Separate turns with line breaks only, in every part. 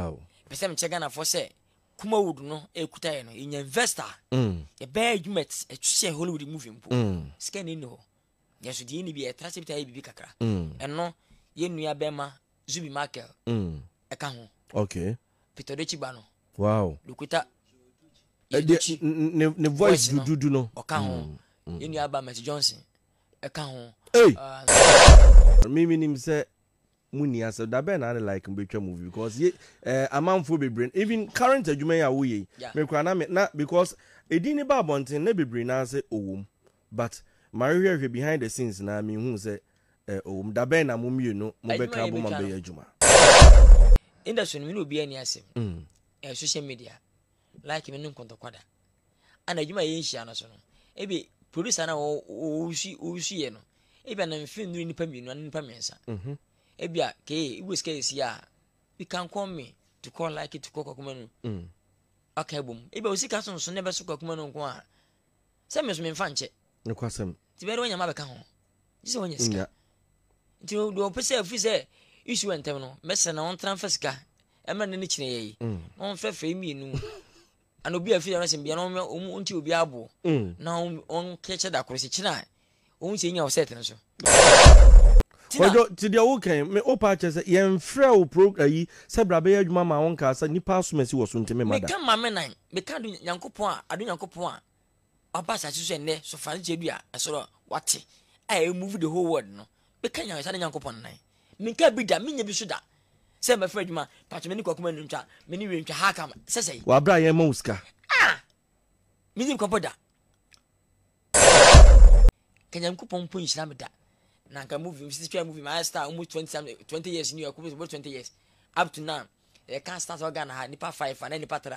Wow. Mepɛ sɛ mekyɛ Ghanafoɔ sɛ Kumawood no ɛkuta yɛ no yɛnya invest a mm. yɛbɛyɛ adwuma ɛto sɛ Hollywood movie mpo mm. sika ni nni hɔ yɛnso deɛ ɛni bi yɛtra sɛ bitayɛ biribi kakra mm. ɛno yɛ nua bɛma Zubi Michael ɛka ho okay. Peter
Dochi ba no
wow. Lukuta Dochi
ne voice dududu no ɔka ho
yɛ nua ba Mercy Johnson ɛka ho hey. uh, mimi
nim sɛ Mo nni asɛm da bɛn na ne like no bɛtwa movie because ye eh, amanfoɔ bebree no even current adwuma yi a woyɛ yi yeah. me koraa na me na because edin ne ba abɔnten na bebree naa sɛ ɔwom but mahwehwɛhwɛ behind the scenes na mehu sɛ eh, ɔwom da bɛn na mo mmienu mobɛka abom abɛyɛ adwuma
industry no me ne obiara ni asɛm mm. eh, social media like me no nkɔntɔkwa da ana adwuma a yɛnhyia no so no ebi producer na wɔwusi wɔwusi yɛ no ebi na mfe nnuru nipa mmienu ana nipa mmiɛnsa mhm. ebi a kee ibu sika esi a you can call me to call like to call kakuma no mm. aka ebom ebi a osika sonson na ɛbɛso kakuma no nko a sɛ mmeso memfa nkyɛ Nokwasɛm. Nti
bɛyɛ dɛ wanya ma abɛka ho.
Gye sɛ wanya sika. Nti no deɛ ɔpɛ sɛ ɛfiri sɛ issue ntɛm no mɛsrɛ na ɔntena mfa sika ɛmɛ ne ne kyerɛ yɛ yi mm. na ɔmfrɛ frɛ mmienu ana obi a firi ɛno sɛm bia na ɔmo nti obi aboɔ mm. na ɔnkɛkyɛ da koro sɛ kyerɛ a ɔmo sɛ nya ɔsɛt no so.
ɔdɔ ti deɛ wokɛn me wopa akyɛ sɛ yɛmfrɛ wo pro ayi sɛ bra bɛyɛ adwuma ma wo nkaa sɛ nnipa asom asi wɔ so nti mema da meka ma me nan meka
do nyankopɔn a ado nyankopɔn a ɔaba asase so ɛnnɛ, sofra no kyerɛ bi a ɛsoro wate a ɛyɛ move the whole world no bɛka nyansane nyankopɔn nan menkaa bi da menyɛ bi so da sɛ mɛfrɛ adwuma patwe me ne kwakuma ntwa me ne wie ntwa ha ka sɛ sɛi wɔabrɛ a yɛn ma wo sika
ah
menim kɔpɔ da ka nyankopɔn mpo nhyira me da na nka movie msisi twɛ movie mayɛ star almost 20, 20 years ni ɛkɔbɛ sɛ 20 years up to now yɛka start wɔ ghana ha nipa 5 ana nipa 3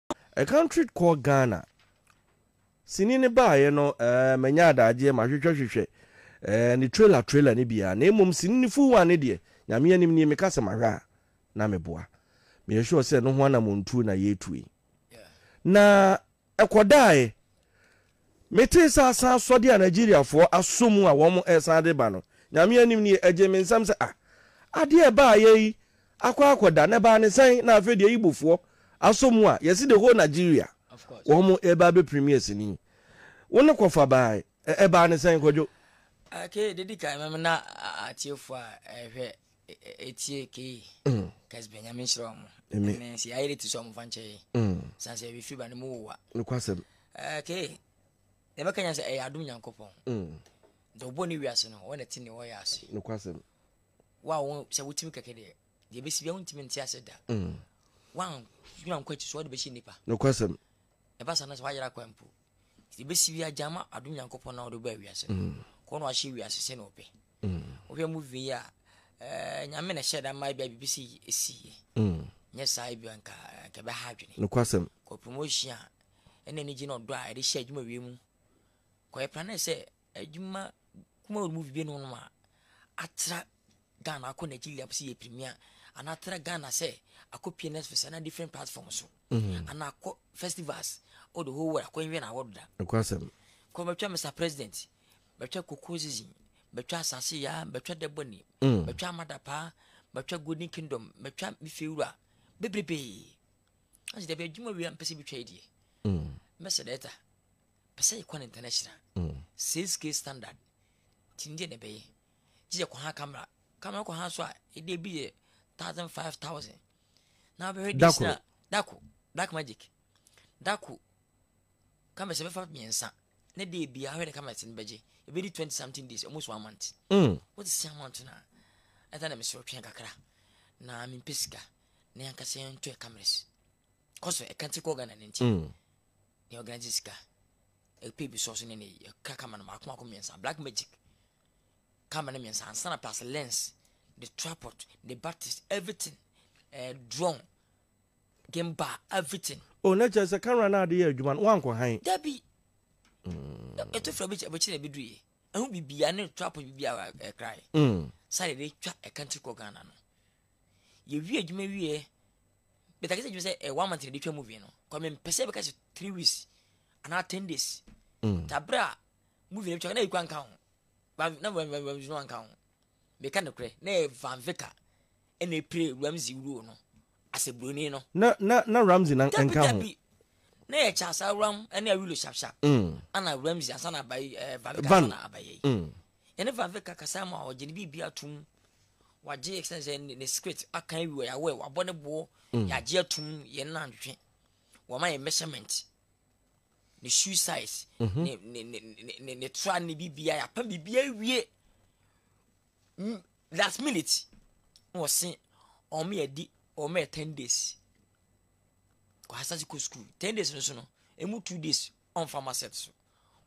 A country called Ghana sini no baaeɛ no eh, manya adagyeɛ mahwehwɛ hwehwɛ eh, ne trailer trailer no biara na mmom sini no full one no deɛ nyame anim nie meka sɛ mahwɛ a na meboa meyɛ sure sɛ no ho anamɔntuo na yɛretu yi na ɛkɔdaeɛ Metee sɛ asan asɔde a Nigeriafoɔ asɔ mu a wɔn resan de ba no, Nyame anim nie, ɛgyee me nsam sɛ, ah, adeɛ a ɛbaeɛ yi akɔ akɔda, na ɛbaa ne sɛn? Na afei deɛ Igbofoɔ asɔ mu a yɛse the whole Nigeria wɔn reba abɛ premier sini. Wo ne Kɔfa baae, ɛbaa ne sɛn, Kwadwo? Okay, deɛ ɛdi
kan, mɛmena atiefoɔ a ɛrehwɛ etie kei kas bɛnyame nhyerɛ ɔmo ɛne sɛ yɛayɛ de ti sɛ ɔmo fa nkyɛ yɛ san sɛ yɛbɛfiri ba no mu wowa nokwasɛm
kei
na ɛbɛka nya sɛ ɛyɛ adom nyankopɔn nti ɔbɔ ne wiase no wɔna ti ne wɔyɛ ase nokwasɛm
wo a wo
sɛ wotumi kɛkɛ deɛ deɛ bɛsi bia wontumi nte ase da woanwura nkɔ akyi so wɔde bɛhyɛ nnipa nokwasɛm
ɛba sa no sɛ
woayera kwan mpo Ebesi wia gyama adom Nyankopɔn na ɔde baa wiase no. Mm. Kɔ na wahyɛ wiase sɛ na ɔpɛ. Mm. Wohwɛ movie yi a ɛɛ eh, nyame na hyɛ da mmaa bia biribi si esi yɛ. Mm. Nyɛ saa ebi nka nka bɛ ha adwene. Nokwasɛm. Kɔ
promotion a
ɛna anigye na ɔdɔ a ɛde hyɛ adwuma wie mu. Kɔ yɛ plan sɛ Adwuma kumaa no mu bi binom nom a atra Ghana akɔ Nigeria sɛ yɛ premier anaa atra Ghana sɛ akɔ PNS Fest anaa different platform so mm-hmm. anaa akɔ festivals all the whole world akɔ nwɛ na award da. Nkwasɛm. Kɔ
bɛtwa Mr
President bɛtwa Koko Zizi bɛtwa Asase Yaa bɛtwa Dɛbɔni mm. bɛtwa Amadapa bɛtwa Golden Kingdom bɛtwa Mifewura bebrebe. Ɔsi dɛbi adwuma wei a mpɛ sɛ bi twa yi deɛ. Mɛsɛ mm. dɛta. Pɛ sɛ yɛkɔ no international mm. sales case standard nti ndeɛ na ɛbɛyɛ gye yɛkɔ ha camera camera kɔ ha so a ɛdeɛ bi yɛ thousand five thousand na wobɛhwɛ dis na dako black magic dako cameras ɛbɛfa mmiɛnsa na deɛ bia hwɛ ne cameras no bɛgye ɛbɛdi twenty something days almost one month mm. wote sɛ amount no a ɛda na mesoro twɛn kakra na mempɛ sika na yɛnkasa yɛntɔ cameras kɔ so ɛka nti kɔ ghana no nti mm. Nea organise sika, ɛpɛ bi sɔs ne ne ɛka camera no mako mako mmiɛnsa black magic camera no mmiɛnsa ansa na plus lens the tripod the batteries everything eh, drone game bar everything. o oh, na kyerɛ sɛ camera
no ade yɛ adwuma no wankɔ han. dabi
mm. ɛto fura bi kyɛ na ɛbɛduru yɛ ɛho bibia ne tripod bibia ɛkrae mm. sɛ yɛde twa ɛkantiri kɔ ghana no yɛwie adwuma wieɛ Bɛta kɛsɛ gyimi sɛ eh, one month na ɛde twa movie no kɔ mempɛ sɛ bɛka sɛ three weeks anaa ten days mm. ta berɛ a movie no bɛtwa na ɛkura nka ho na ramzi no anka ho meka nokorɛ na ɛyɛ van vika ɛna ɛpire ramzi wuruo no asɛ buroni no na na na ramzi na
nka ho na yɛ kyasa
ram ɛne awilo sharp sharp mm. ana ramzi ansa na abayi eh, van vika ansa na abayi
mm.
Yɛne Vavek kakasa ma ɔgye ne biribia tum wagye extend sɛ ne secret aka awi wɔ yɛawɛ wabɔ ne boɔ mm. yɛagye atum yɛn na ntwetwe wɔma yɛ measurement ne shoe size mhm. ne ne ne ne ne tra ne biribia yɛapa biribia awie mm, last minute na wɔse ɔmo yɛ di ɔmo yɛ ten days kɔ asase kɔ school ten days no so no emu two days ɔnfa ma set so.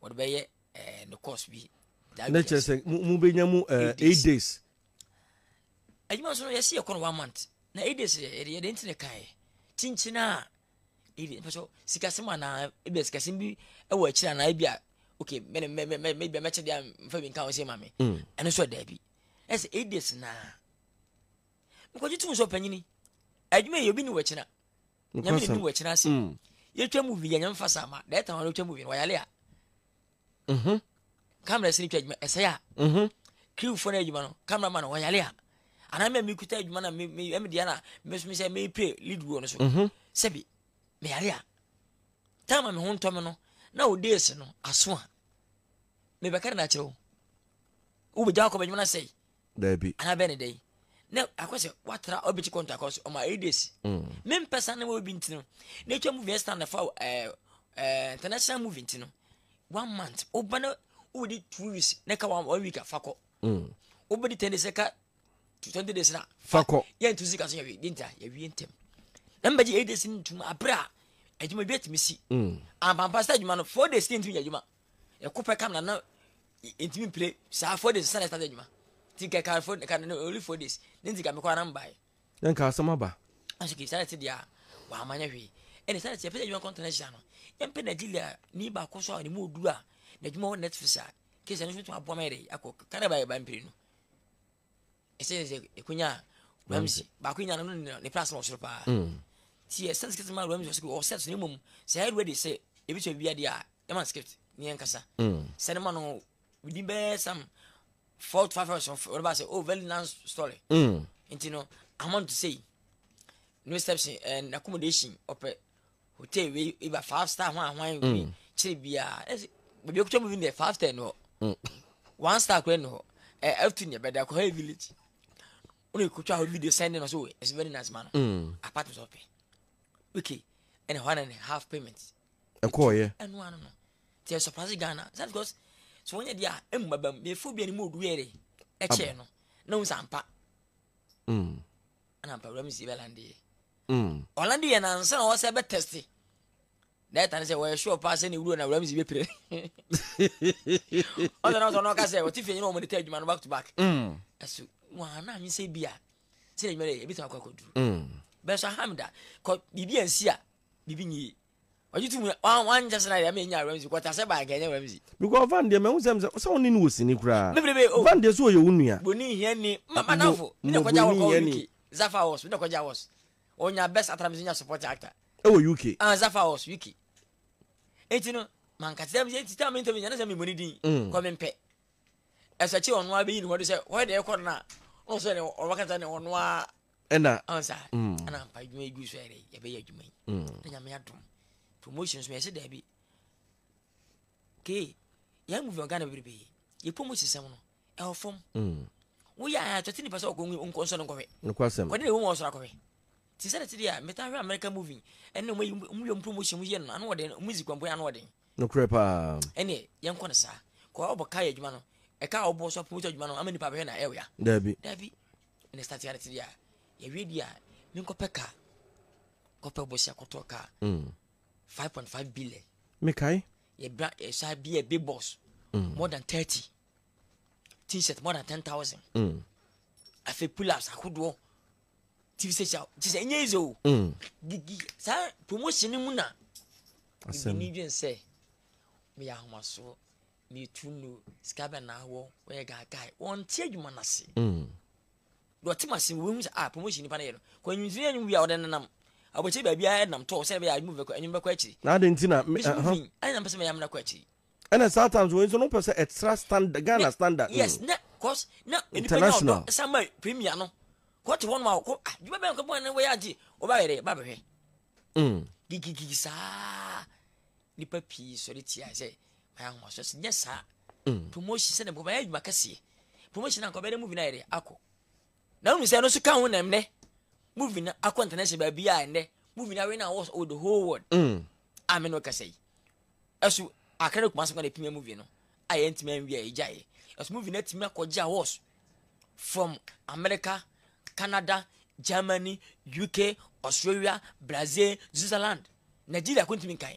wɔde bɛyɛ ɛɛ ne course bi. ne kyerɛ sɛ
mo mo bɛ nya mu ɛɛ eight days.
adwuma nso yɛsi yɛ kɔ no one month na eight days yɛ yɛ de ntina kan yɛ kyinkyin a ebi mpɛ so sikasɛm anaa ebi a sikasɛm bi ɛwɔ akyiri anaa ebi a okay mɛ mɛ mɛ mɛ ebi a mɛkyɛ de a nfa bi nka ho se ma mi mm. ɛno nso ɛda bi ɛsɛ eight days naa nkɔgye tum nso panyini adwuma yɛ obi ni wɔ kyina. nyame yɛ nuwa kyena ase mm. yɛtwa mu vi yɛnyɛ mfa saa ma dɛ ɛta hɔ no wotwa mu vi no wɔyale a mhm. kamera sini twa adwuma ɛsɛe a mhm. kriwfoɔ no adwuma no kamera ma no wɔyale a anaa mɛ mekuta adwuma na medeɛ na mesome sɛ mepɛ lead wɔ no so mhm. sɛbi meyale a time a me ho ntɔ me no na wo days no aso a mebɛka de no akyerɛ wo wobɛgya wakɔ bɛdwuma no sɛe Daabi. Anaa bɛyɛ
ne dɛn?
na akɔ sɛ watra obi ti kɔntɔ akɔ so ɔma eight days mm. mempɛ saa na wɔ obi ntino na atwa movie ɛsɛ na fa ɛɛ ɛɛ international movie ntino one month woba na wobɛdi two weeks na ka one one week a fa kɔ mm. wobɛdi ten days ka twenty days na fa kɔ yɛnto sika
so yɛwie
di nta yɛwie ntɛm na mbɛgye eight days no ntum aberɛ a adwuma bi atumi si mm. ampampa sɛ adwuma no four days ne ntumi yɛ adwuma ɛko pɛ kam na na ntumi mpire saa four days sani ɛsate adwuma ti nka ɛka four ɛka no only four days ne nti ka mekɔ anam bae. na nka asɛm aba.
aso kii sani ti deɛ
a wama nyɛ hwee ɛna sani ti yɛpɛ sɛ adwuma kɔntɛn ahyia no yɛmpɛ nigeria ni baako so a ne mu oduru a n'adwuma wɔ netflix a kii sani so tuma aboa ma yɛde akɔ kanada ba yɛ ba mpire no. ɛsɛ sɛ ɛkɔnya ramsey baako nyina no no ne plas no wɔ soro paa mm. nti ɛsɛ sɛ script ma ramsey wɔ sɛ wɔ sɛ so ne mmom sɛ ɛyɛ ready sɛ ɛbɛtumi bi adeɛ a ɛma script ne yɛ nkasa mm. sɛ ne ma no within bɛɛ sam four to five hours wɔde ba sɛ oh very nice story mm. nti no amount to say no steps and accommodation ɔpɛ hotel wei iba five star ho ahoan wei mm. kyerɛ biara ɛsɛ baabi ekutwa mu bi deɛ five star ni hɔ mm. one star kura ni hɔ ɛ ɛtu ni ɛbɛda kɔ hɛ village wọn yɛ kutwa hɔ video send na so wei ɛsɛ very nice man mm. apart from sɔpɛ okay ɛna one and a half payment ɛkɔɔ yɛ
ɛnu ano no
tiɛ surprise ghana sɛ because so wɔn yɛ di a emu baba mu efo bi a ni mu odu yɛ de ɛkyɛ no na wɔn nsa mpa. ɛna mpa wura mu si bɛlande yɛ ɔlande yɛ na ansa na wɔsɛ bɛ tɛste na ɛtane sɛ wɔyɛ sure paa sɛ ne wuro na wura mu si bɛpire ɔsɛ na ɔsɛ ɔka sɛ ɔte fie nyina ɔmɔde ta adwuma no back to back ɛso wɔa na anwe sɛ bi a sɛ na adwuma no yɛ ɛbɛtumi akɔ akɔduru bɛso aha me da biribi ansi a biribi nyie Ɔgye to mu na wan wankyɛ sɛ na deɛ ama yɛnya Ramsey kɔ ɔtasɛ baa nka ɛnyɛ Ramsey. Because Van deɛ mahu
sɛ sɛ wo ne no wɔ sini koraa. Me bere bee oh. Van deɛ sɛ ɔyɛ
wo nua.
Broni nhia ni. Ma
madamfo me na kɔgya wɔ kɔ UK. Zafa Ɔs me na kɔgya wɔs. Ɔnya best actor me nso nya support actor. Ɛwɔ UK. Ah
Zafa Ɔs UK.
Enti no manka sɛ me enti tam interview nyana sɛ me moni din. Mm. Kɔ me mpɛ. Ɛsɛ kye ɔno abɛyi ne ho do sɛ hɔ deɛ ɛkɔ no na. Ɔno sɛ ɔno kasa ne ɔno a ɛna ɔn sa
mm. ɛna
mpa adwuma yi gu so ɛdɛ yɛbɛyɛ adwuma yi mm. na nyame adom promotion so yɛhyɛ daabi kee yɛn movie ɔgana bebrebe yɛ promotion sɛm no ɛwɔ fam mm. woyɛ a tɔte nipa sɛ ɔkɔ nkɔnsɔ no nkɔhwɛ kɔde ne ɛwɔ mu
ɔsoro akɔhwɛ
ti sɛ ti deɛ meta hwɛ american movie ɛne ɔmo yi ɔmo yɛ ɔmo promotion mu yɛ no ano ɔden ɔmo zi kɔmpo ano ɔden nokorɛ paa
ɛne yɛn kɔ no
saa kɔ ɔbɔ kaa yɛ adwuma no ɛka ɔbɔ so promotion adwuma no ama nipa bɛhwɛ na ɛwɔ ya daabi daabi
Ɛna start
yɛ adeɛ a yɛwie deɛ a menkɔpɛ ka kɔpɛ bosia kɔtɔ ka mm. five point five billion. mekae.
yɛbra yɛsa
bia big boss mm. more than thirty t-shirt more than ten thousand. Mm. afei pull-ups ahodoɔ tv station kye sɛ ɛnyɛ easy o. Mm. gigi saa promotion no mu na. asɛm
ɛni dwen sɛ
meyɛ ahomasoɔ. na etu nnu sika bɛn na awɔ wɔyɛ guy guy wɔnte adwuma no ase mm. deɛ ɔte ma sen wɔhu sɛ ah promotion nipa no yɛ no kɔ anwumtiri anwum wia ɔde nenam abɔkyɛ baabi a ɛnam tɔɔ sɛ ɛbɛyɛ adwuma bɛkɔ anwum bɛkɔ akyiri na ade nti na mesi
mu fin ɛne na mpɛ sɛ mɛyɛ
amena kɔ akyiri ɛna saa times
wɔn nso no pɛ sɛ ɛtra standard ghana standard yes na cause
na nipa nya ɔdɔ ɛsan ma
premier
no kɔ te hɔ nom a kɔ adwuma bɛn kɔ bɔn ne wɔyɛ agye ɔba yɛ dɛ ba bɛhwɛ gigigigi saa nipa pii sɔre tia sɛ Mayɛ ahomaso sɛ nyɛ saa. Mm. Promotion sɛ na nkɔmɔ ayɛ adwuma kɛseɛ. Promotion na nkɔmɔ yɛ dɛ movie na ayɛ dɛ akɔ. Na wonu sɛ ɛno nso ka ho na ɛmnɛ movie na akɔ international baabi a ɛnɛ movie na awɛ na awɔ with the whole world. Mm. A me na ɔkasa yi. Ɛso akra ne kumase kwan na pimia movie no a yɛntumi anwia ɛgya yɛ. Ɛso movie na atumi akɔgye awards from America, Canada, Germany, UK, Australia, Brazil, Switzerland. Nigeria ko ntumi nkan.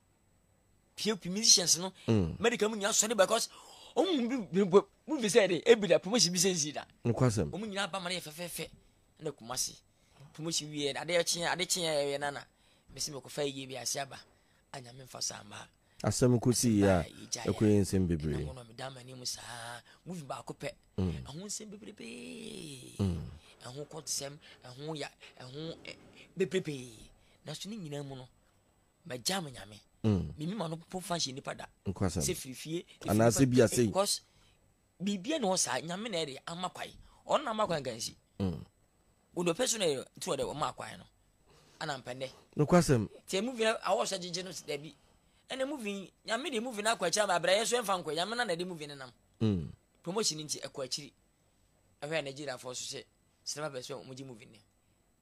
pie pie musicians no mm. medical mu nyinaa sɔre because ɔmu bi bi bɔ mu fi sɛ de ebi da promotion bi sɛ nsi da nokwasɛm ɔmu nyinaa ba ma
ne yɛ fɛfɛɛfɛ
ɛna kuma se promotion wie ade kyeɛ ade kyeɛ ɛyɛ nana mesi mekɔ fɛ yie bi ase aba anyame nfa saa mmaa asɛm ko si
yie a ɛkɔ yɛ nsɛm bebree ɛna wɔn meda ma ne mu
saa mu fi baako pɛ mm. ɛho nsɛm bebrebe mm. ɛho kɔnsɛm ɛho ya ɛho bebrebe na so ne nyinaa mu no mɛgya me nyame mimi ma no po fa hyɛ nipa da sɛ firi fie anaasɛ bi asɛ
because
biribia ne hɔ saa nyame na ɛde ama kwae ɔno na ama kwae nka nsi wodɔ pɛ so na ɛyɛ nti ɔde ɔma kwae no ana mpɛnɛ nokwasɛm nti
ɛmu vi awɔ
sɛ gyegye no dabi ɛna mu vi nyame de mu vi no akɔ akyiri ama abrayɛ so ɛmfa nkɔ nyame na na ɛde mu vi no nam mm. promotion nti ɛkɔ akyiri ɛhwɛ nigeriafoɔ so sɛ sinema bɛsɛ ɔmogye mu vi ne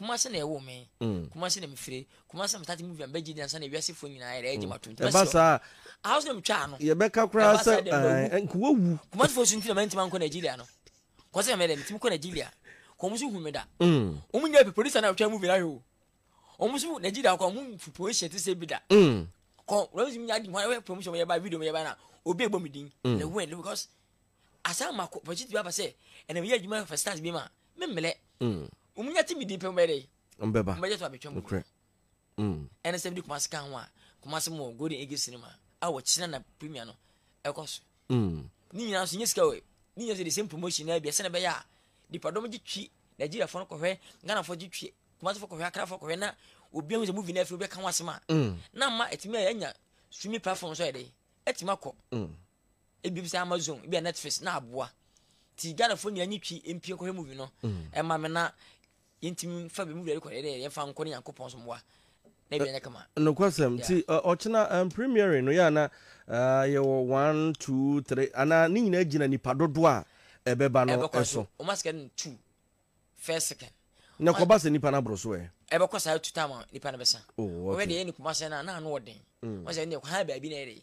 kumase na ɛwɔ me mm. kumase na mefire kumase na metati movie bɛgye di ansa na wiasefoɔ nyinaa yɛrɛ ɛgye mato nti ɛba saa
ahouse na metwa ano
yɛbɛka koraa sɛ
nkuwa wu kumasefoɔ so nti na mantimi
ankɔ nigeria no kɔsɛ na mɛdɛ metimi kɔ nigeria kɔm so hu me da mm. ɔmu nyɛ producer na ɔtwa movie no ahwɛ o ɔmu so nigeria kɔ ɔmu promotion te sɛ bi da mm. kɔ rɛmsi mi adi mu ayɛ promotion yɛ ba video yɛ ba na obi ebɔ mi din na wɛn because asan ma kɔ pɔtiti bi aba sɛ ɛna mi yɛ adwuma for stars bi ma. Mm. me mmerɛ wɔn nya ti mi di pɛ wɔn bɛyɛ dɛ wɔn bɛba wɔn bɛyɛ to
abɛtwa mu korɛ
ɛna sɛ bi de kumasi kan ho a kumasi mu wɔ golden age cinema a wɔ kyina na premier no ɛkɔ so ne nyinaa nso nye sika wɔ ne nyinaa nso de same promotion na bi ɛsɛ na bɛyɛ a nipadɔm gye twi nigeria fo no kɔhwɛ ghana fo gye twi kumasi fo kɔhwɛ akra fo kɔhwɛ na obi ahu sɛ movie na afiri bɛka ho asɛm a na ma ɛtumi anya streaming platform so yɛ dɛ ɛtumi akɔ Ebi bisa Amazon, ebi a Netflix na aboa. Ti Ghanafoɔ nyinaa nyi twi mpie nkɔhwɛ movie no. Mm. Ɛma me na yɛntumi mfa bi mu wura rekɔ dɛ yɛmfa nkɔ ne Nyankopɔn so mmoa. Na ebi anyɛ kama. Nokwasɛm. Ti
ɔkyena um, premiering no yɛ ana uh, yɛwɔ one, two, three ana ne nyinaa gyina nipa dodoɔ a ɛbɛba no ɛso. Wɔn asika no two
first second. Na kɔba sɛ nipa
no aboro so ɛ. Ɛbɛkɔ saa two time
nipa no bɛsa. Oh, okay. Wɔyɛ deɛ yɛ ne kumasa
na na
ano ɔden. Mm. Wɔn sɛ ne kɔ ha baabi na yɛ de.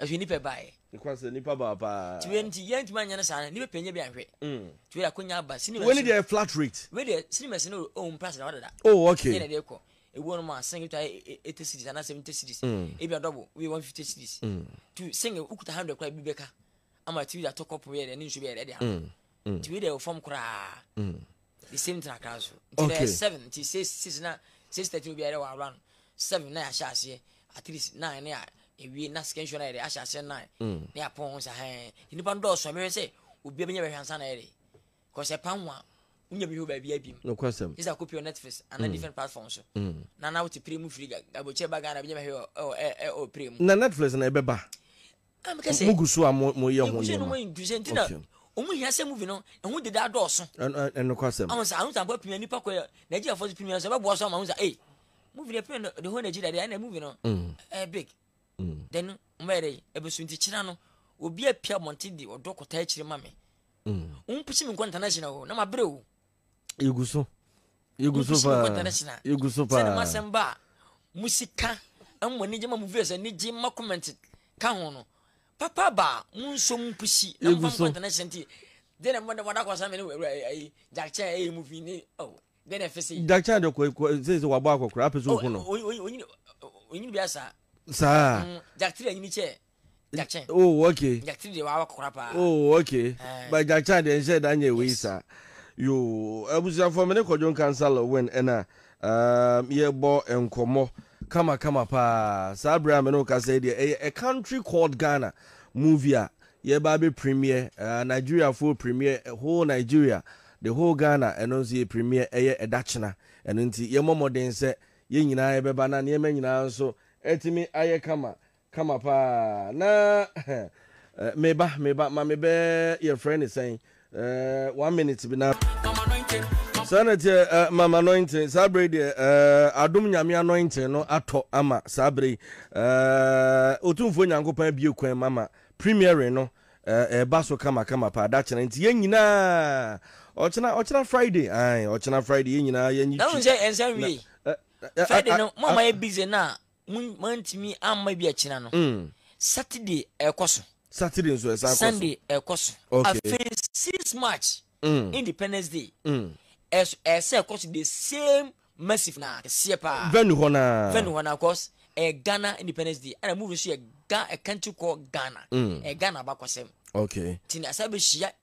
ɛhwɛ nipa baeɛ ɛkwa sɛ nipa baa
paa ti wei nti yɛn ntoma nyɛ no
saa no nipa pɛnyɛ bi anhwɛ mm. ti wei akonya aba sinima wei deɛ flat rate
wei deɛ sinima si no
ɔn price na wadada oh okay yɛn na deɛ kɔ
ewu no ma
sing to eighty cities ana seventy cities mm. ebi adɔbo wei one fifty cities mm. to sing ukuta hundred kora ebi bɛka ama ti wei de atɔ kɔpu yɛ deɛ ne nsu bɛyɛ deɛ deɛ ano ti wei deɛ ɔfam koraa. the same thing akra so nti okay. dɛ seven nti
six
six na six thirty obi ayɛ wɔ awura no seven na yɛahyɛ aseɛ at least nine na ewie na second show na yɛde ahyɛ aseɛ nine mm. na yɛapɔn ho sa hɛn nnipa no dɔɔso mehwɛ sɛ obi abɛnya bɛhwɛ ansa na yɛde kɔsɛ pan ho a wonya bɛhwɛ wɔ baabi abim nokwasɛm ɛsɛ akɔpi wɔ
netflix
ana mm. different platform so mm. na na wote pire mu firi gabokyɛ ba ghana bɛnya bɛhwɛ wɔ pire mu na netflix na ɛbɛba
mo gu so a mo mo yɛ ho nneɛma okay
ɔmo hia sɛ movie no ɛho deda adɔɔso ɛno kɔ asɛm ɔmo
sɛ ahun sanko apimia
nipa kɔ yɛ nigeria fɔ so pimia sɛ ɛbɛboa so ama ahun sɛ ee movie no apimia the whole nigeria deɛ ɛna movie no mm. ɛɛ big mm. then ɔmo bɛyɛ dɛ ɛbɛso nti kyerɛ no obi apia mɔnten de ɔdɔ kɔta akyire ma me ɔmo mm. pusi mi nkɔ international o na ma bere o yɛgu so
yɛgu so paa yɛgu so paa sɛde ma asɛm ba a
mo sika mo ani gye ma mo viewers ani gye ma comment ka ho no papa ba mo nso mo pusi na mo fa mo kɔ international nti deɛ na mo da mo da kɔ sɛ mene wura ayi jakye a ɛyɛ movie ne oh deɛ na ɛfɛ sɛ yi jakye a de kɔ
sɛ sɛ wabɔ akɔkora apɛ sɛ ohu no onyini
bi asa saa
jakye a nyini kyɛ
Gyakye. Oh okay. Gyakye
deɛ wawa kɔkora
paa. Oh okay. Eh.
But Gyakye adeɛ nhyɛ da nyɛ wei saa. Yoo abusuafoɔ me ne Kwadwo Nkansah Lawin ɛna um, yɛbɔ nkɔmmɔ kama kama paa. Saa berɛ a me ne wo kasa yi deɛ ɛyɛ A Country Called Ghana movie a yɛba abɛ premier. Uh, Nigeriafoɔ premier eh, whole Nigeria, the whole Ghana ɛno nso yɛ premier ɛyɛ ɛda kyena. Ɛno nti yɛmmɔ mmɔden sɛ yɛn nyinaa yɛbɛba na nneɛma nyinaa nso ɛtumi ayɛ kama. Kama paa na eh, me ba me ba ma me bɛ yɛ frɛ ne sɛn eh, one minute bi na. saa na tiɛ eh, mama anointing saa bere deɛ eh, adom nyame anointing no atɔ ama saa bere yi eh, otumfoɔ nyankopɔn abie kwan mu ama premiering no eh, ɛba so kama kama paa da kyerɛ nti yɛn nyinaa ɔkyena ɔkyena friday ae ɔkyena friday yɛn nyinaa yɛn nyi twi. ɛhu sɛ ɛnsa wie.
Friday no mo ama yɛ busy na Mo mantumi amma bi akyina no. Mm. Saturday ɛkɔ so. Saturday nso ɛsan
kɔ so. Sunday ɛkɔ so.
Okay. Afei
six March.
Mm. Independence Day. Mm. Ɛso ɛsɛ ɛkɔ so the same massive na kɛseɛ paa. Venue hɔ naa.
Venue hɔ naa cause ɛyɛ eh,
Ghana Independence Day ɛna movie nso yɛ Ghana country called Ghana. Mm. Ɛyɛ eh, Ghana abakɔsɛm. Okay. Ti na
sɛ bɛ hyia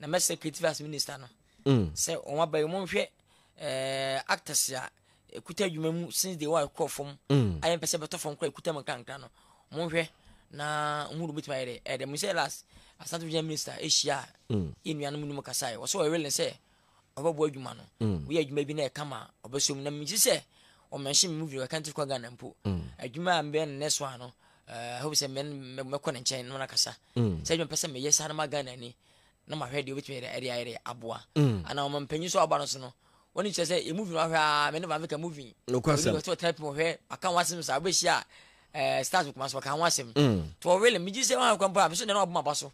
na mɛsrɛ creative arts minister no mm. sɛ wɔn aba yi monhwɛ eh, actors a ɛkuta adwuma mu since day one kɔɔ fam mm. ayɛ mpɛ sɛ bɛtɔ fam kora ɛkuta mu nkrankra no monhwɛ na ɔhu no bɛtumi ayɛ dɛ ɛdɛ mu sɛ last asante regional minister ɛhyia a yɛ nuanom no mu kasae wɔ sɛ wɔwele sɛ ɔbɛbɔ adwuma no mm. woyɛ adwuma bi na ɛka ma ɔbɛsɔ mu na megye sɛ ɔmɛnhye me mu video ɛka nti kɔ ghana mpo mm. adwuma a mbɛyɛ no next one no eh, hope sɛ mɛkɔ ne nkyɛn no nakasa mm. sɛ adwuma pɛ sɛ meyɛ saa no ma ghana ni na mahwɛ deɛ wobɛtumi ɛde ayɛ deɛ aboa ana ɔma mpanyin so aba no so no wɔne kyerɛ sɛ ɛmuvi no ahwɛ a mene vamfika muvi ɔtena
pi ɔhwɛ
aka ho asɛm saa wobɛhyia eh, stars kuma so ɔka ho asɛm tɔwele megye sɛ wohakwa mpo a meso nɛne waboma ba so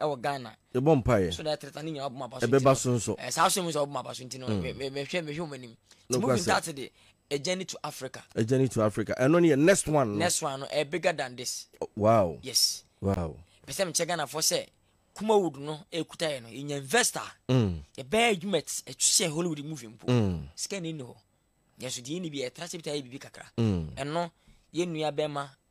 wɔ Ghana. Yɛbɔ mpaeɛ. So na
ɛtreta ne nyinaa ɔbɛma aba
so. Ɛbɛba so nso. Eh, saa
so mu sɛ ɔbɛma aba so
nti no mm. mehwɛ mehwɛ wɔn anim. Ti mu bi ntaate de a journey to Africa. A journey to Africa. Ɛno ne
yɛ next one. Next one no ɛ eh, bigger
than this. Oh, wow. Yes.
Wow.
Pɛsɛ mi
kyɛ Ghana fɔ
sɛ Kumawood no ekuta yɛ no yɛ nya investor. Mm. Yɛ bɛɛ adwuma ɛtwitwɛ eh, Hollywood movie mpo. Mm. Sika ni ni hɔ. Yɛn so deɛ ni bi yɛ tra se bi ta yɛ bibi kakra. Ɛno yɛ nua bɛɛ ma.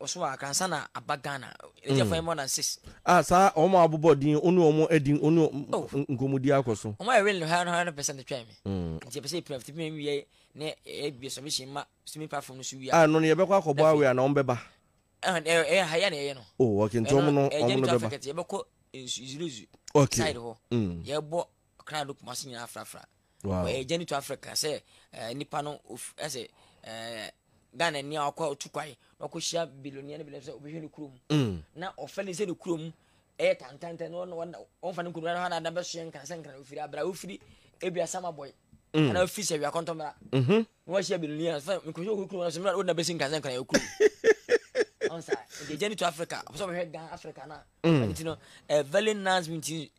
ɔso a kansa na aba ghana ɛdi afɔ yɛ more than six. a saa wɔn a abobɔ
din ɔne wɔn adi ɔne oh. nkɔmɔdi akɔ so. wɔn a ɛwɛn no hara hara no
pɛsɛ ne twɛn mi. Mm. nti ɛpɛsɛ epira fiti mi wiye ne ebi submission ma swimming platform no so wia. a ɛno no yɛbɛkɔ akɔbɔ awi
a na wɔn bɛba. ɛyɛ ha
yɛ na ɛyɛ no. o wɔkente wɔn no
wɔn no bɛba. ɛyɛ jɛnjɛn afɛkɛtɛ yɛbɛkɔ nsu
zuru zu. okay side hɔ.
Mm.
yɛbɔ Ɔkra no kuma ase nyinaa frafra. Wɔyɛ agya ne to
afrɛ ka sɛ
nipa no ɛsɛ Ghana ni a ɔkɔ otu kwae na ɔkɔ hyia biloniɛ ne biloniɛ sɛ ɔbɛhwɛ ne kurom mm. na ɔfɛ ne sɛ ne kurom ɛyɛ tantantɛ na ɔnfa ne nkonnwa no hɔ na ada bɛsoɛ nkran sɛ nkran ofiri abira ofiri ebi asama bɔe mm. anaa ofiri sɛ wia kɔntɔmmra mhm. na wahyia biloniɛ sɛ nkɔhwɛ ɔkɔ kurom sɛ mmerɛ ɔna bɛsi nkran sɛ nkran yɛ kurom ɔnsa ɛdi agya ne to Africa ɔpɛ sɛ ɔbɛhwɛ Ghana Africa na mm. ɛno ti no a very nice meeting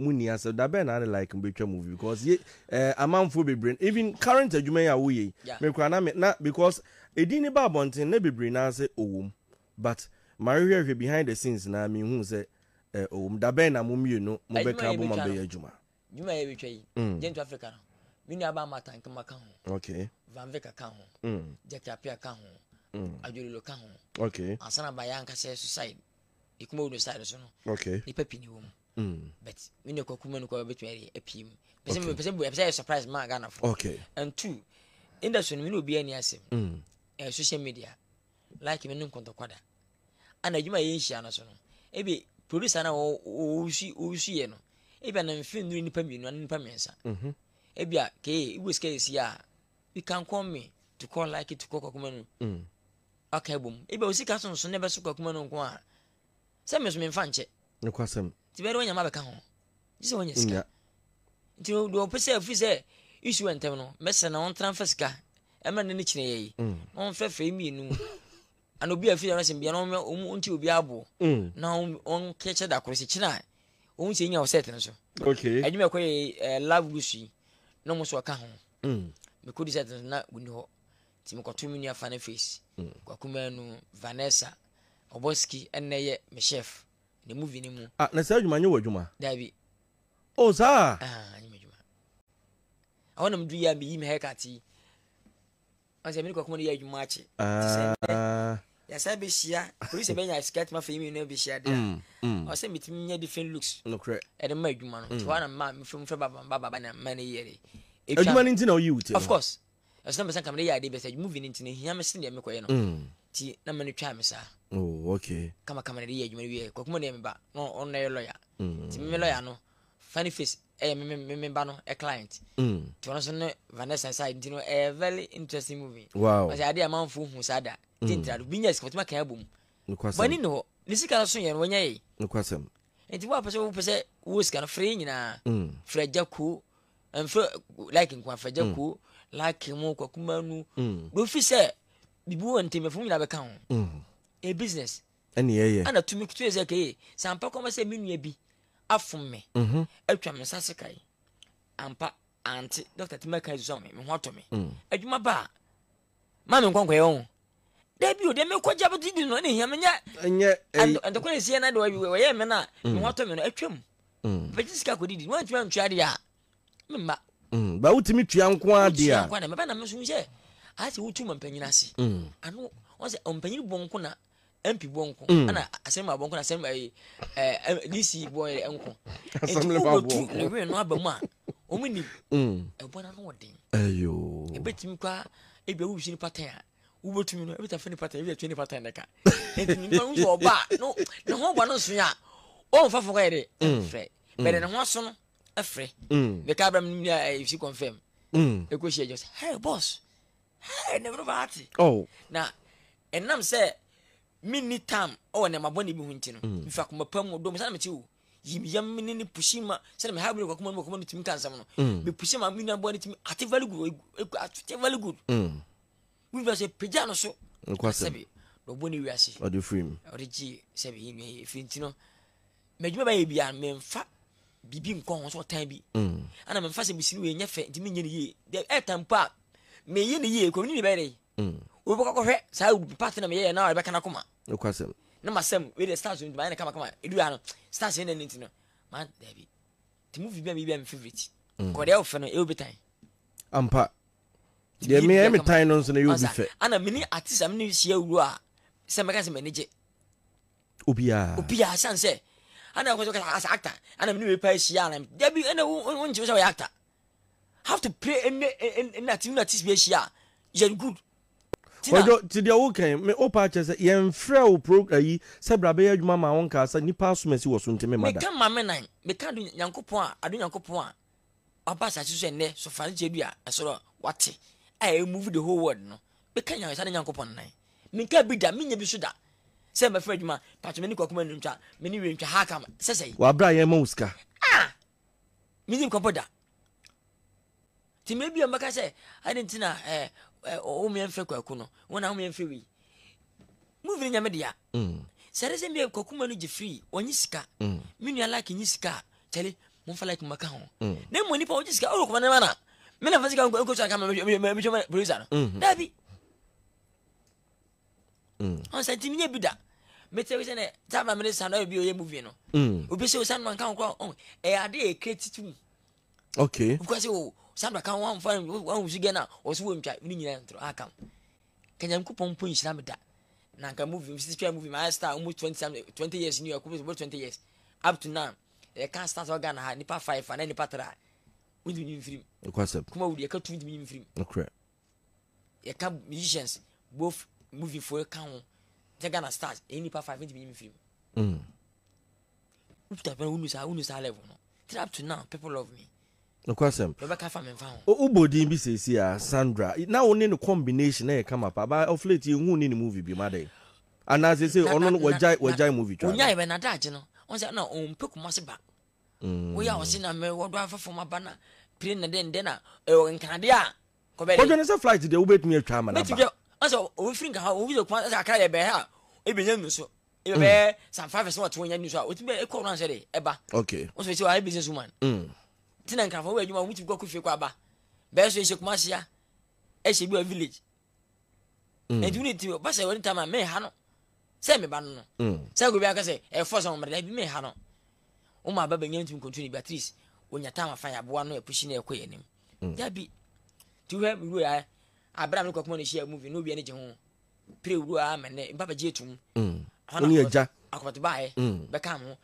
Mo nni asɛm da bɛn na ne like no bɛtwa movie because ye eh, amanfoɔ bebree no even current adwuma yi a woyɛ yi yeah. me koraa na me na because edin ne ba abɔnten na bebree naa sɛ ɔwom but mahwehwɛhwɛ behind the scenes na mehu sɛ eh, ɔwom da bɛn na mo mmienu mo bɛka bɔ ma bɛyɛ adwuma adwuma yɛ bɛtwa yi
mm. Gentle Africa no me nua ba ama tankama ka ho okay. Van Vick
ka ho
mm. Jackie Apia ka ho mm. Adwololo ka ho okay. ansa na
bayɛ ankasɛ
suicide ɛkuma wo no side so no okay. nipa pii ne wɔ mu Mm. but me ne kwaku ma no kwa bɛtumi ayɛ apue mu pɛ sɛ mepɛ sɛ bu ɛpɛ sɛ yɛ surprise ma ghanafoɔ okay. and two industry no me ne obiara ni asɛm mm. ɛyɛ social media like me ne nkɔntɔkwa da ana adwuma yɛ nhyia no so no ebi producer na ɔwusu ɔwusu yɛ no ebi ana mfe nnuru nipa mmienu ana nipa mmiɛnsa mhm. ebi a kee ibu sika esi a you can call me to call like to call kwakuma no mm. aka ebom ebi a osika sonson na ɛbɛso kwakuma no nko a Sɛ me nso me nfa nkyɛ. Nokwasɛm. Nti
bɛyɛ dɛ wanya ma bɛka ho.
Gye sɛ wanya sika. Nti no deɛ ɔpɛ sɛ ɛfiri sɛ issue ntɛm no mɛsrɛ na ɔntena mfa sika ɛmɛ ne ne kyerɛ yɛ yi mm. na ɔmfɛ fɛ mmienu ana obi a ɛfiri ɛno sɛm bia na ɔmɛ ɔmu ɔnti obi aboɔ mm. na ɔnkɛkyɛ da koro sɛ kyena a ɔhu sɛ nya ɔsɛt no so adwuma ɛkɔ yɛ love lusu yi na ɔmo so ɔka ho mm. mekɔdi sɛt no na ɔni hɔ Nti mekɔtoo me nua Faneface, Kwaku Manu, Vanessa, Oboski ɛnnɛ yɛ me chef ne movie no mu. Ah, na saa adwuma nyɛ w'adwuma?
Daabi.
Oh, saa?
Ah, nyɛ m'adwuma.
Ɛhɔ na medu yɛ a meyi me haircut yi. Ɔn sɛ me ne Kwaku Manu yɛ adwuma akye. Ah. Te sɛ nnɛ, yɛasan bɛhyia, polisi bɛnya skirt ma fei mmienu abɛhyia de a, mm, mm. ɔwɔ sɛ metumi nya different looks. Nokorɛ. Ɛde ma adwuma
no. Nti mm. hɔ
a na mma mefrɛ mu frɛ baba baba na mma ne yere. Adwuma no nti na
woyi wo ti no? Of course.
Ɛso
na mepɛ
sɛ nka mede yɛ adeɛ bi sɛ movie no nti no ɛhia me sen deɛ mekɔyɛ no nti na mene twaa me saa oh, okay.
kama kama na de yɛ adwuma no
wieɛ kwakuma no yɛ me ba na ɔno na ɛyɛ lɔya nti meme lɔya no funny face ɛyɛ me me me ba no ɛ client nti ɔno nso ne Vanessa side nti no ɛyɛ very interesting movie wow. ɔsɛ adeɛ amanfoɔ
hu
saa da gye ntra do bi nya sika ɔtumi aka abom bɔne ne hɔ ne sika no so yɛ no wɔnyɛ yɛ nti
woapɛ sɛ
wopɛ sɛ wowɔ sika no frɛ yɛ nyinaa frɛ agya kuo ɛnfɛ like nkwa fɛgyɛ mm. ko like mu kwakuma nu mm. do fi sɛ bibi wɔ ntɛmɛfo nyinaa bɛka ho mm. a business ɛne ɛyɛ ɛna
tumi kutu yɛ sɛ kɛyɛ
sɛ ampa kɔma sɛ me nua bi afom me mm-hmm. atwa me nsa seka yi ampa ante dɔkta tumi aka sɛ me ho atɔ me adwuma ba a Ma me nkɔ nkɔyɛ wɔn. Dabi o, deɛ me kɔ gya bɛ di no, ɛna hia me nyɛ. Ɛnyɛ ɛyi.
Ɛdɔkɔ yɛ si
ɛna de wa wi wɔyɛ mɛ na ne ho atɔ mɛ no atwam. Bɛ gye sika kɔ didi, wɔn ntoma ntua deɛ a, me mma. Ba wotumi
tua nko ara deɛ a. Wotua nko ara deɛ, mɛ ba na me nso sɛ,
ayɛ sɛ wotu ma mpanyin ase. Ano, wɔn sɛ ɔmpanyin bɔ nko na mp bɔ nko mm. ɛna asɛm abɔ nko na asɛm ɛyi ɛɛ dc bɔ yɛ nko nti wobɛ tu
ne wɛn no aba mu a
wɔn ni ɛbɔ na no wɔ den ɛyɔ
ebetumi kɔ a
ebi awo si nipa tɛn a wobɛtumi no ebi ta fɛ nipa tɛn ebi ta twe nipa tɛn ne ka nti nipa no sɛ ɔba no ne ho bɔ no nso yɛ a ɔnfa fɔ kɔ yɛ de ɛfɛ bɛrɛ ne ho aso no ɛfɛ ne ka abira mu ni a ɛyɛ si confirm ekosi ɛjɔ sɛ hey boss. Hey, na mmerɛma ate. Oh. Na ɛnam sɛ menni tam wɔ nneɛma bɔne bi ho nti no, mm. mefi akoma pa mu ɔdɔ mu sɛ na mete o yim yam ne ne pusi ma sɛdeɛ meha bere kwakoma no kwakoma no tumi ka nsɛm no mm. mepusi ma me nuaboa no tumi ate very good ate very good mm. wofɛ sɛ pagya no so sɛbi
na ɔbɔ ne wiase
ɔde firi mu ɔde
gye sɛbi
yɛ nua yɛ ɛfiri nti no madwuma bɛyɛ biara memfa biribi nkɔ ho sɛ ɔtan bi ana memfa sɛ mesini wei nyɛ fɛ nti menyɛ no yie ɛtan mpo a meyɛ no yie kɔmini bɛyɛ dɛ mm. wobɛkɔ akɔhwɛ saa part na meyɛyɛ na ɛbɛka no akoma nokwasɛm na
masɛm wei deɛ
stars nti mayɛ no kamakama ɛdu ha no stars ɛnɛ no nti no ma daabi nti movie bi a meyɛ bi a me favorite mm. kɔdeɛ a wofɛ no ɛyɛ obi tan ampa
deɛ meyɛ me tan no nso no ɛyɛ obi fɛ ana mene artist a
mene hyia wuro a sɛ mɛka sɛ m'ani gye obiaa obiaa sane sɛ ana kɔ sɛ as actor ana mene wei pa ahyia na dabi ɛna wonkyerɛ sɛ wɔyɛ actor have to pray ɛnɛ ɛnɛ ɛnɛ ati na ti bi ahyia yɛn good. ɔdɔ
ti deɛ wo kɛn me o paa kyɛ sɛ yɛn frɛ o pro ayi sɛ bra bɛyɛ adwuma maa wo nkaa sɛ nipa asom asi wɔ so nti me ma da. meka maame nan
meka ado nyankopɔn a ado nyankopɔn a waba asase so ɛnɛ so fa ne kyɛ du a ɛsoro wate a ɛyɛ move the whole world no meka nyansa ne nyankopɔn nan menka bi da menya bi so da sɛ mɛfrɛ adwuma patwɛ me ne kwakuma no ntwa me ne wie ntwa ha kam sɛsɛi. wabra yɛn ma wo sika. Ah! menni nkɔpɔ da nti mmerɛ bi a mɛka sɛ ade nti na eh, eh, womeɛ mfrɛ kwaku no wo na womeɛ mfrɛ wei muvi no nyame dea mm. sɛ de sɛ mmeɛ kwaku ma no gye firi ɔnye sika mm. me nua like nye sika a kyɛle momfa like maka ho mm. na mmɔ nipa ɔgye sika ɔwɔ kɔma no ma na me na fa sika nkɔsɔ aka mehwɛ producer no daabi mm. ɔn sɛ nti menyɛ bi da mete sɛ nɛ saa ma mene sa no bi ɔyɛ movie no mm. obi sɛ ɔsa no manka ho kora ɔn ɛyɛ ade yɛ kra titi mu okay
obi kora sɛ o
sa no bɛka ho amfa wahusu gɛ no a ɔsɛ wɔntwa mene nyina ntoro akam ka nyankopɔn mpo nhyira me da na nka movie msisi twa movie mayɛ star almost 20, 20 years new york over 20 years up to now ɛka start wɔ ghana ha nipa five ana nipa tra wontumi nyim firim kuma wudi ɛka tu
wontumi nyim
firim yɛka musicians both movie fo ka ho sɛ ghana stars ɛyɛ nipa five ntumi nyim firi mu wokuta pɛn wonu saa wonu saa level no till up to now people love me nokwasɛm
yɛbɛka fa memfa ho
wobɔ din bi seesi
a sandra na wo ne no combination na yɛ kama pa ba of late yɛhu ne ne movie bi ma dɛn anaasɛ sɛ ɔno no wagyae wagyae movie twa ɔnyae bɛ nadagye no
ɔn sɛ na ɔmpɛ kuma se ba Woyɛ a ɔse na me wɔdɔ afa fam aba na pire na dɛn dɛn na ɛwɔ nkanade a kɔbɛ de. Kɔdwene sɛ
flight deɛ wobɛtumi atwa ama no aba. Bɛtumi asɛ ɔbɛfiri nka
ha obi sɛ kuma sɛ akra yɛ bɛɛ ha ebi nya nu so ebi bɛɛ mm. san five sɛ wɔte wɔnya nu so a wotumi bɛ ekɔ ɔran sɛ de ɛba. Okay. Wɔsɛ sɛ wɔayɛ
business woman.
Mm. Ti na nkanfo wɔ adwuma wɔn tumi kɔ kɔ fie kɔ aba bɛɛ so ehyɛ kuma seya ehyɛ bi wɔ village. Mm. Ɛnti wɔn ti basɛ wɔn ti ama mɛ ha no. sɛ meba no no mm. sɛ obi aka sɛ ɛfɔ sɛ wɔmmerɛ daabi mɛha no woma aba bɛnya ntumi nkontu ne bi at least ɔnya time afa yɛ aboa no ɛpusi na ɛkɔ yɛ anim mm. daabi nti wohwɛ wuro yɛ aberɛ a me kɔkoma no hyia movie na obia no gye ho pere wuro a mɛnɛ mpa bɛgye atum mm. wone agya
akɔpɛto baeɛ
bɛka ho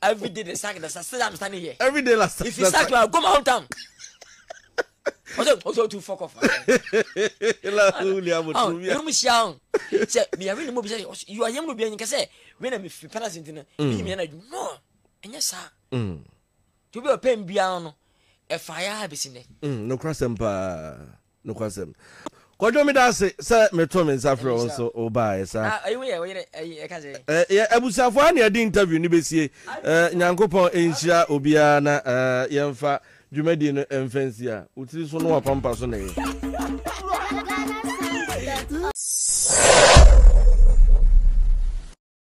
Everyday the sack, the sack, still I'm standing here. Every day last. If you sack,
you are go my
hometown. Also, also to fuck off. La
huli amo tu mia. Inu mishia on.
Se mi yami ni mo bisa you are yemu bi anyinka se we na mi fi pala sinti na. Mi ni mi na ju no. Enye sa. Mm. To be a pen bia no. E fa ya ha besi ne. Mm, no kra sempa.
Nokwasɛm. Kwadwo meda ase sɛ metoo me nsa frɛ wo nso wobaeɛ sa. Ah eyi wo yɛ wo yere ɛyi ɛka
sɛ. Eh yɛ abusuafoɔ ha na
yɛde interview no bɛsie eh Nyankopɔn nhyira obiara na eh yɛmfa dwumadie no mfa nsi a wo tiri so no wapampa so na ɛyɛ.